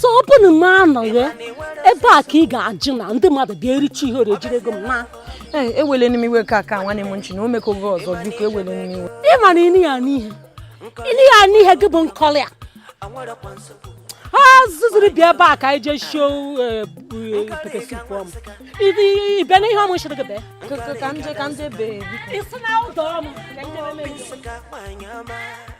so ọ bụrụ na m anọghị ebe a ka ị ga-ajụ na ndị mmadụ bịa ericha ihe ori ejire gị mma ewele nị m iwe ka aka nwanne m nchi na o mekọ gị ọzọ biko ewele nị m iwe ị mara ịnị ya n'ihe ịnị ya n'ihe gị bụ Nkoli a ha zụziri bịa ebe a ka anyị jee shie eh, eh, pepper soup ọmụ ịbịa n'ihe ọmụ shiri gị bee ka ndị bee isi na ụdọ ọmụ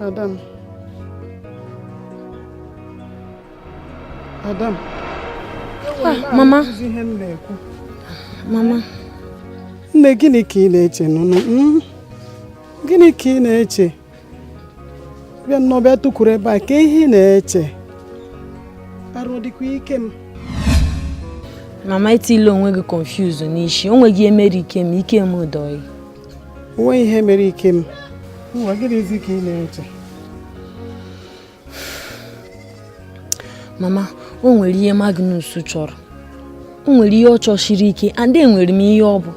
Ada m. Ada m. Ah, mama. Mama. Nne gịnị ka ị na-eche nụnụ? Hmm? Gịnị ka ị na-eche? bịa nnọọ bịa tụkwuru ebe a kaa ihe ị na-eche arụ dịkwa Ikem mama etiile onwe gị confuse n'ishi o nweghị ihe mere Ikem Ikem dọ ọyị onweghị ihe mere Ikem nwa gịnịzi ka ị na-eche mama o nwere ihe Magnus chọrọ o nwere ihe ọ chọshiri ike and enwere m ihe ọ bụ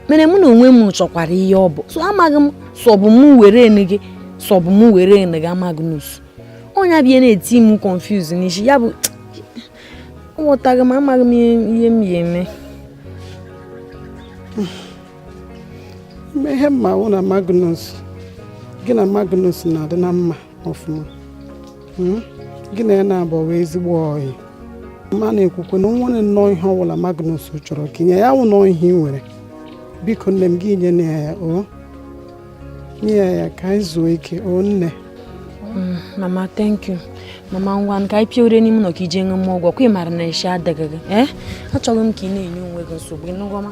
mere mụ na onwe m chọkwara ihe ọ bụ so amaghị m sọbụ m were enu gị sọbụ m were enu gị Magnus onye abịa na-eti m confuse n'ishi ya bụ aghọtaghị m amaghị m ihe m ya eme ihe m ma wụ na Magnus gị na Magnus na-adị na mma ọfụma hmm? gị na ya na-abụ ezigbo ọyị ma na-ekwukwe na o nwere nnọọ ihe ọbụla Magnus chọrọ ka ị nye ya wụ nọọ ihe ị nwere biko nne m gị nye na ya nye ya ka anyị zuo ike o nne hmm, mama thank you mama ngwa ka anyị pịoro n'ime ụlọ ka ị jee ṅụma ọgwụ kwa ị maara na isi adịghị gị ee eh? achọghị m ka ị na-enye onwe gị nsogbu ịnụgọma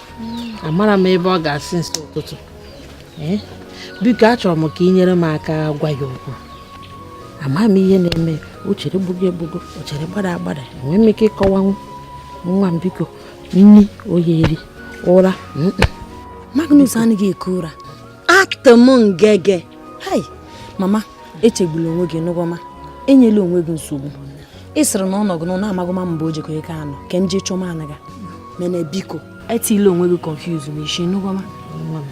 amara m ebe ọ gaa since ụtụtụ ee biko achọrọ m ka ị nyere m aka gwa ya okwu ama m ihe na-eme o chere gbugo egbugo o chere gbada agbada enwee m ike ịkọwanwu nwa m biko nni o yi eri ụra Magnus anaghị eku ụra atụ m ngege hai mama echegbula onwe gị ịnụgọma enyela onwe gị nsogbu ị sịrị na ọ nọgụ n'ụnọ na ị magụma mbe o jekọ ike anọ ka m jee chọma anaga mene biko etiile onwe gị confuse n'ishi ịnụgọma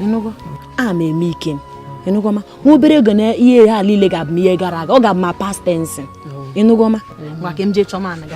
ịnụgo a ma eme ike m ịnụgọma nwa obere oge na ihe ha niile ga-abụma ihe gara aga ọ ga-abụ ma past tense ịnụgọma ngwa ka m jee chọma anaga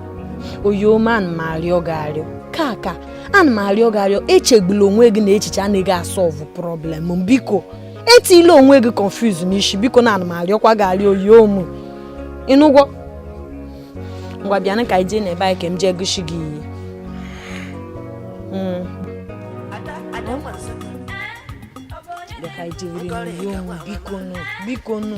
oyom ana m arịọ gị arịọ kaka ana m arịọ gị arịọ echegbula onwe gị na echiche anaghị asọlvụ problem biko etile onwe gị confuse n'isi biko na ana m arịọkwa gị arịọ oyom ịnụgwọ ngwa bịanụ ka anyị jee n'ebe anyị ka m jee gosi gị ihe hmm. biko nụ biko nụ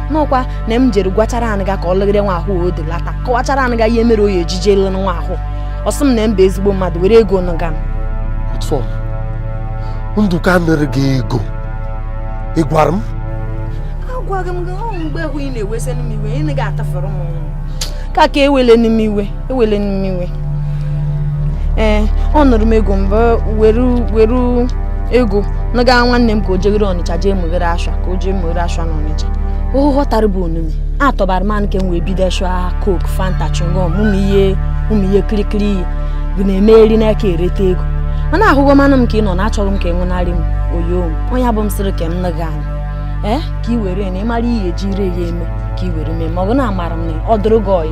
n'ọkwa na m jere gwachara anyị ga ka ọ lụgide nwa ahụ o delata kọwachara anyị ga ihe mere o ya eji je lụrụ nwa ahụ ọ sị m na m bụ ezigbo mmadụ were ego nụga m ndụka nere gị ego ị gwara m agwaghị m gị ọ mgbe hụ ị na-ewesị nụ m iwe ị na-ga atafere m kaka ewele nụ m iwe ewele m iwe ee ọ nụrụ m ego mba were were ego naga nwanne m ka o jeghere ọnịcha jee meghere ashwa ka o jee meghere ashwa na ọnịcha ọ ghọtara bụ onume a tọbara m nke m wee bido shwa coke fanta chingom ụmụ ihe ụmụ ihe kirikiri ihe bụ na-emeri n'aka ereta ego mana ahụghọ manụ m ka ị nọ na achọghị m ka ị nwụnarị m oyom onye abụ m sịrị ka m naga anyị ee ka ị were na ị mara ihe eji ire ya eme ka ị were mee ma ọ bụ na amara m na ọ dụrụ gị ọyị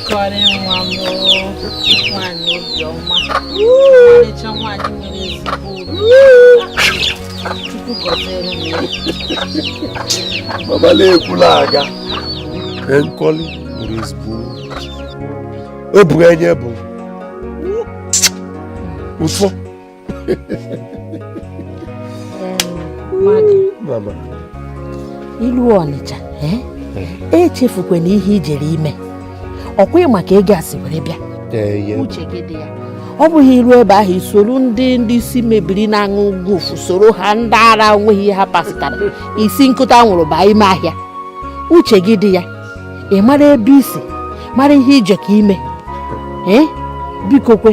nkọli nwa m nwanyị obiọma ọmarịcha nwanyị nwere ezigbo chukwu gọziere m ya mama na-ekwula aga nkọli nwere ezigbo obu enye bụ ụfọ ilu ọnịcha eh? echefukwana ihe i jere ime ọkwa ị ma ka ego a si were bịa uche gị dị ya ọ bụghị i ru ebe ahụ i soro ndị ndị isi mebiri na-aṅụ gofu soro ha ndị ara o nweghị ihe ha pasịtara isi ṅụkọta anwụrụ baa ime ahịa uche gị dị ya ị mara ebe i si mara ihe i jeko ime ee biko kwe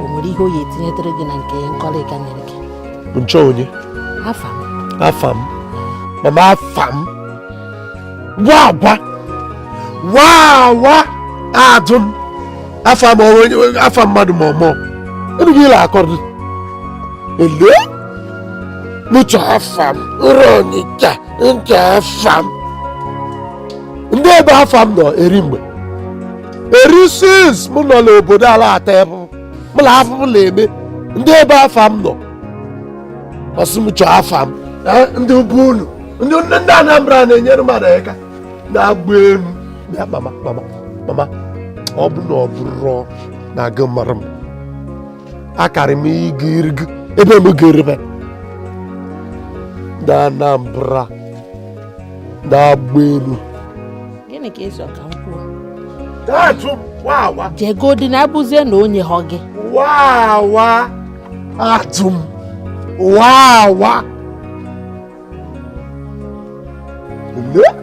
o nwere ihe o ya etinyetere gị na nke nkọlịka nyere gị nchọ onye afam afam mama afam gwa agwa wa wa adụ m afam afa mmadụ ma ọmọ ebe gị ịla akọrọ ele nụcha afam nrọ ọnịcha ncha afam ndị ebe afam nọ eri mgbe erisis m nọ n'obodo ala ata afụfụ mụ na afọ m na-eme ndị ebe afa m nọ ọ sị m chọọ afa m Eh, ndị ugwu unu ndị ndị ndị anambra na-enyere mmadụ aka na-agba elu bịa mama mama mama ọ bụ na ọ bụrụ na agụụ mara m akarị m ịga irigo ebe m ga-eri be ndị anambra na-agba elu gịnị ka ị chọ ka m kwuo Taatụ wawa jegodi na abụzie na onye hụ gị wawa atụ m wawa. Ele?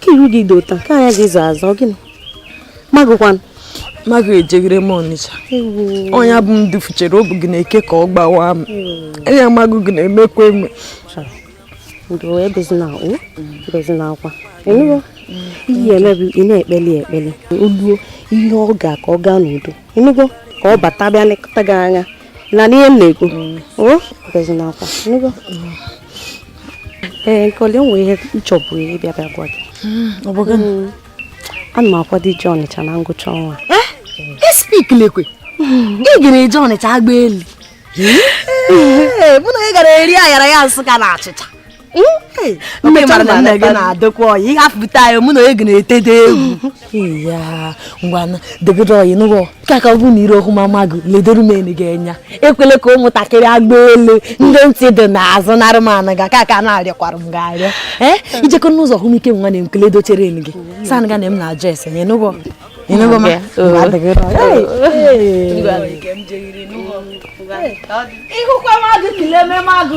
ka iru gị dị otu a ka anya gị za aza gịnị magụkwanụ magụ ejeghere m ọnịcha onye bụ m dufuchere obi gị na-eke ka ọ gbawa m anya magụ gị na-emekwa eme ndo ebezina o ebezina akwa ị nụgo ihe emebi ị na-ekpeli ekpele oluo ihe ọ ga ka ọ gaa n'udo ị nụgo ka ọ bata bịa nekọta gị anya ị na-anụ ihe m na-ekwu mm. ebezina akwa ị nụgo ee nkoli o nwe ihe m chọbụ ịbịa bịa gwa gị ọ bụ gịnị hmm. ana m akwado ije ọnịcha na ngwụcha ọnwa eh? espik lekwe ị gara eje ọnịcha agba elu mụ na ị gara eri ayaraya nsụka na achịcha hmm? nne mara na nna gị na-adịkwa ọyị ị hafụta ya mụ na ị ga na-etede egwu ya ngwanụ dịgide ọyị ị nụgo ka ka ọ bụ na ire okwu mama gị ledoro m enu gị anya ekwele ka ụmụntakịrị agba elu ndị ntị dị n'azụ narị m anụ ga ka ka na-arịọkwara m ga-arịọ ee i jekọ n'ụzọ hụ m ike nwa na m kele dochere enu gị san ga na m na-ajụ ese nye ị nụgo ị nụgo ma ị hụkwa magụ kelee m magụ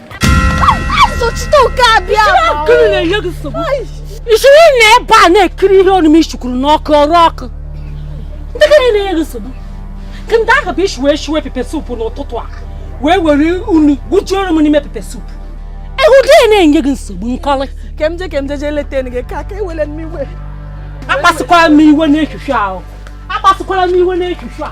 i siri na ebe a na-ekiri ihe ọnụ m ishikwuru n'ọkụ ọrụ ọkụ ndị gịnị na-enye gị nsogbu nke ndị ahụ bụ isi wee shiwe pepe supu n'ụtụtụ a wee were unu gbujuoro m n'ime pepe supu ehu dị na-enye gị nsogbu nkoli ka m je ka m je jee leta gị ka aka ewele m iwe akpasịkwara m iwe n'echuchu ahụ akpasịkwara m iwe n'echuchu a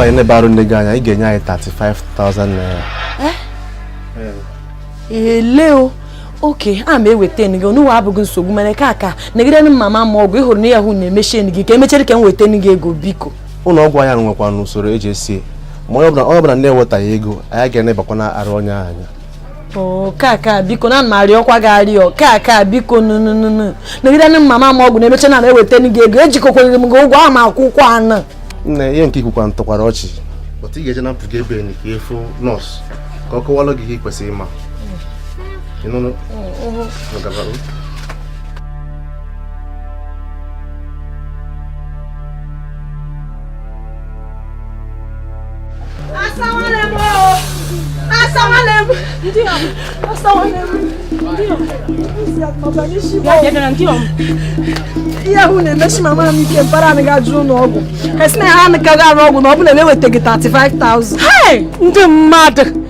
anyị enebara nne gị anya ị ga-enye anyị 35,000 naira ele o okay a ma eweta gị onye uwe abụghị nsogbu mere ka aka negide ndị mama m ọgwụ ị hụrụ na ahụ na-emechi enyi gị ka emechere ka m weta gị ego biko ụlọ ọgwụ anyị nwekwanụ usoro e ji esi ma onye ọbụla na-ewetaghị ego anyị ga-enebakwa n'arụ onye anya oo kaka biko na m arịọkwa gị arịọ kaka biko nụ nyegodu nụ mama m ọgwụ na emecha m eweta gị ego ejikọkwanyere m gị ụgwọ ahụ m akwụkwa unu nne ihe nke ikwukwa ntụkwara ọchị but ị ga-eje na mpụga ebe enyi ka ị fụ nọọsụ ka ọ kọwalụ gị ihe ị kwesịrị ịma ịnụnụ gabara ihe ahụ na-emesi mama m ike mpara anyị ga-ajụ ụlọ ọgwụ esi na ha anụkaghị arụ ọgwụ ma ọ bụrụ na ewetaghị 35,000 ndị mmadụ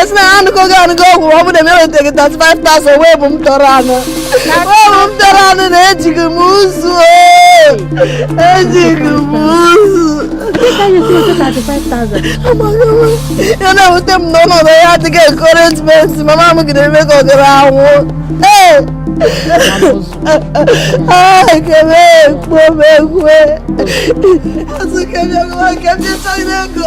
esi na ha anụgo gị anụgo ọgwụ ọ bụ na m eweteghị 35,000 wee bụ m tọrọ anụ wee bụ m tọrọ anụ na ejighị m ụzụ ejighị m ụzụ ya na-ewute m na ọnọdụ ya adịghị encouragement mama m gị na-eme ka ọ ga-anwụ ee ekele ekpo m ekwe azụ kebịa nwa nke ndị chọrọ ego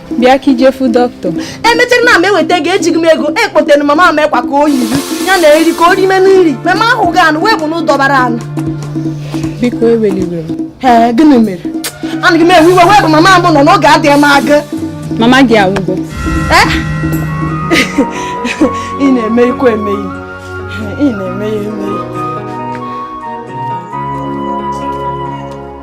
bịa ka i je fụ dọkịta emechara na m ewetaghị ejighị m ego ekpotere mama m akwa ka o yiri ya na nri ka o rime nri mama ahụ ga anụ wee bụ na ụdọbara anụ biko ewela iwe ee gịnị mere anaghị m ewe iwe wee bụ mama m nọ n'oge adịghị m aga mama gị anwụgo eh? ị na-eme ikwu emeghị ị na-eme ya emeghị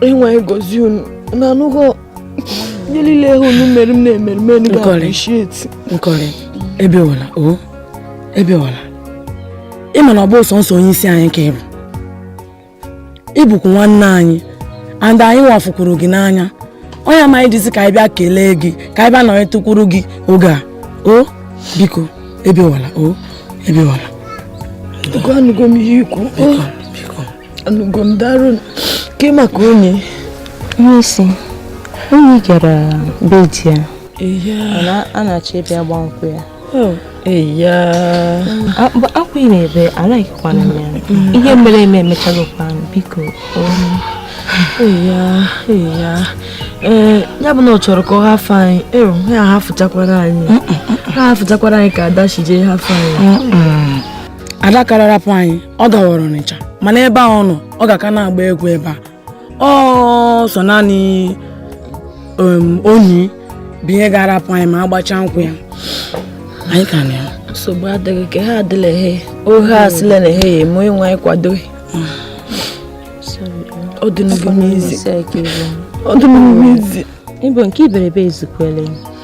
nwe anyị gọzie unu na anụghọ ihe niile ahụ unu mere m na-emere m enu ga-appreciate nkoli ebewala o ebewala ị ma na ọ bụ sọnsọ onye isi anyị ka ị bụ ị bụkwu nwanne anyị and anyị nwa fụkwuru gị n'anya ọ ya mere anyị ji sị ka anyị bịa kelee gị ka anyị bịa nọnyetụkwuru gị oge a o biko ebewala o ebewala anụgo m ihe i kwu anụgo m darụ ke maka onyi e si onyi gara be di ya a na-achọ ịbịa gba nkwụ ya oh, akwa ị na-ebe anaghịkwana ya mm-hmm. ihe mere eme emechalụkwa biko ee ya bụ na ọ chọrọ ka ọ hafụ anyị ero ya hafụchakwara anyị ha hafụchakwara anyị ka ada shije hafụ anyị ada kara rapụ anyị ọ gawara ọnịcha mana ebe a ọ nọ ọ ga-aka na-agba egwu ebe a ọ sọ naanị um, onyi bụ onye ga-arapụ anyị ma agbacha nkwụ ya anyị ka nọ ya nsogbu adịghị ka ha adịla ehe ohe asịla na ehe ya onye nwe anyị kwado ọ dị n'ugwu n'izi ọ dị n'ugwu n'izi ịbụ nke iberibe ezukwele